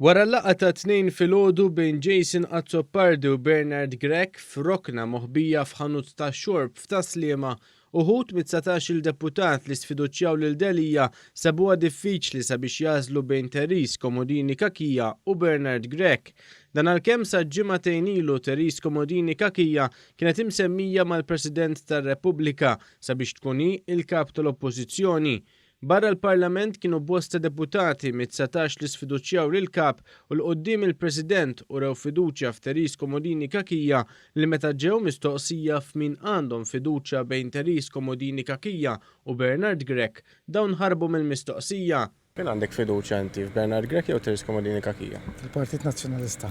Wara l-laqgħa tat-Tnejn filgħodu bejn Jason Azzopardi u Bernard Grech f'rokna moħbija f'ħanut tax-xorb f'Tas-Sliema, uħud mit-dsatax-il deputat li sfiduċjaw lil Delia sabuha diffiċli sabiex jagħżlu bejn Therese Comodini Cachia u Bernard Grech. Dan għalkemm sa ġimagħtejn ilu Therese Comodini Cachia kienet imsemmija mal-President tar-Repubblika sabiex tkun hi l-Kap tal-Oppożizzjoni. Barra l-Parlament kienu bosta deputati mit-dsatax li sfiduċjaw lill-Kap u 'l quddiem il-President urew fiduċja f'Therese Comodini Cachia li meta ġew mistoqsija f'min għandhom fiduċja bejn Therese Comodini Cachia u Bernard Grech dawn ħarbu mill-mistoqsija Min għandek fiduċja inti, f'Bernard Grech jew Thérèse Comodini Cachia? Fil-Partit Nazzjonalista.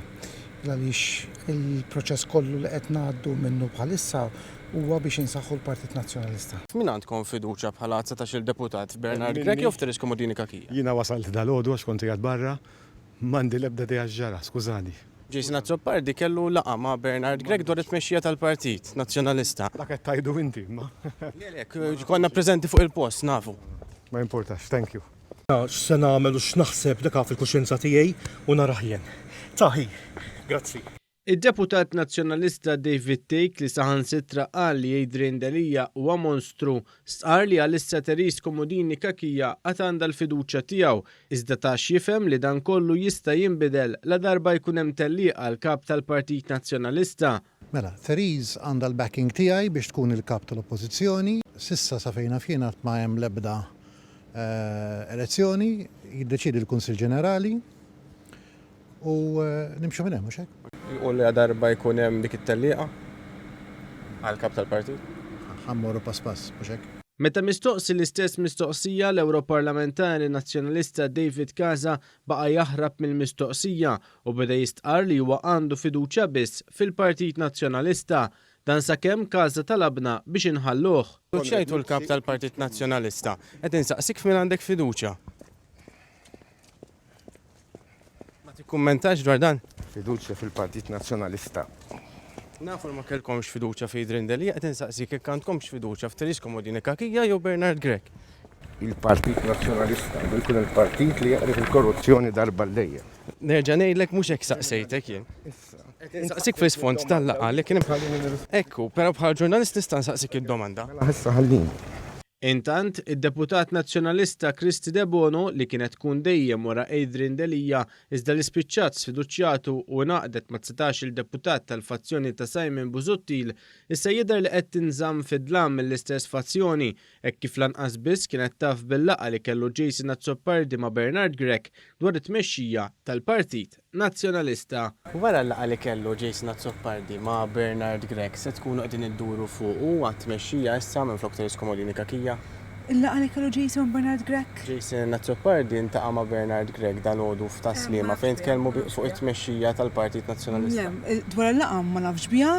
Għaliex il-proċess kollu li qed ngħaddu minnu bħalissa huwa biex insaħħu l-Partit Nazzjonalista. F'min għandkom fiduċja bħala dsatax-il Deputat, f'Bernard Grech jew f'Thérèse Comodini Cachia? Jiena wasalt dalgħodu għax kont qiegħed barra, M'għandi l-ebda idea x'ġara, skużani. Jason Azzopardi kellu laqgħa ma' Bernard Grech dwar it-tmexxija tal-Partit Nazzjonalista. Dak qed tgħidu inti imma. Le le, konna preżenti fuq il-post, nafu. Ma jimpurtax, thank you. Ta' x'se nagħmel u x'naħseb dak fil-kuxjenza tiegħi u narah jien. Ta' hi. Grazzi. Id-Deputat Nazzjonalista David Thake li saħansitra qal li Adrian Delia huwa monstru, stqarr li għalissa Therese Comodini Cachia għad għandha l-fiduċja tiegħu, iżda ta x'jifhem li dan kollu jista' jinbidel ladarba jkun hemm tellieq għal Kap tal-Partit Nazzjonalista. Mela, Therese għandha l-backing tiegħi biex tkun il-Kap tal-Oppożizzjoni. S'issa sa fejn naf jien għad ma hemm l-ebda elezzjoni, jiddeċiedi l-Kunsill Ġenerali. u nimxu minn hemm mhux hekk? U li darba jkun hemm dik it-tellieqa għall-Kap tal-Partit? Ħa mmorru pass pass, mhux hekk? Meta mistoqsi l-istess mistoqsija, l-Ewroparlamentari Nazzjonalista David Casa baqa' jaħrab mill-mistoqsija u beda jistqarr li huwa għandu fiduċja biss fil-Partit Nazzjonalista. Dan sakemm Casa talabna biex inħalluh. X'għidtu l-Kap tal-Partit Nazzjonalista? Qed insaqsik f'min għandek fiduċja? Ma tikkummentax dwar dan? Fiduċja fil-Partit Nazzjonalista. Nafu li ma kellkomx fiduċja fi Idrien Delia, qed insaqsik jekk għandkomx fiduċja f'Therese Comodini Cachia jew Bernard Grech. Il-Partit Nazzjonalista għandu jkun il-partit li jaqref il-korruzzjoni darba għal dejjem. Nerġa' ngħidlek mhux hekk staqsejtek jien. Qed insaqsik fl-isfond tal-laqgħa li kien hemm. Ekku, però bħala ġurnalist nista' nsaqsik id-domanda. Mela issa ħallini. Intant, id-deputat Nazzjonalista Kristy Debono, li kienet tkun dejjem wara Adrian Delia, iżda li spiċċat sfiduċjatu u ingħaqdet ma' dsatax-il deputat tal-fazzjoni ta' Simon Busuttil, issa jidher li qed tinżamm fid-dlam mill-istess fazzjoni, Hekk kif lanqas biss kienet taf bil-laqgħa li kellu Jason Azzopardi ma' Bernard Grech dwar it-tmexxija tal-Partit Nazzjonalista. Wara l-laqgħa li kellu Jason Azzopardi ma' Bernard Grech se tkunu qegħdin idduru fuq u għat-tmexxija issa minflok Teres Comodini Cachia. Il-laqgħa li kellu Jason ma' Bernard Grech. Jason Azzopardi ltaqa' ma' Bernard Grech dalgħodu f'Tas-Sliema fejn tkellmu fuq it-tmexxija tal-Partit Nazzjonalista. Le, dwar il-laqgħa ma nafx biha.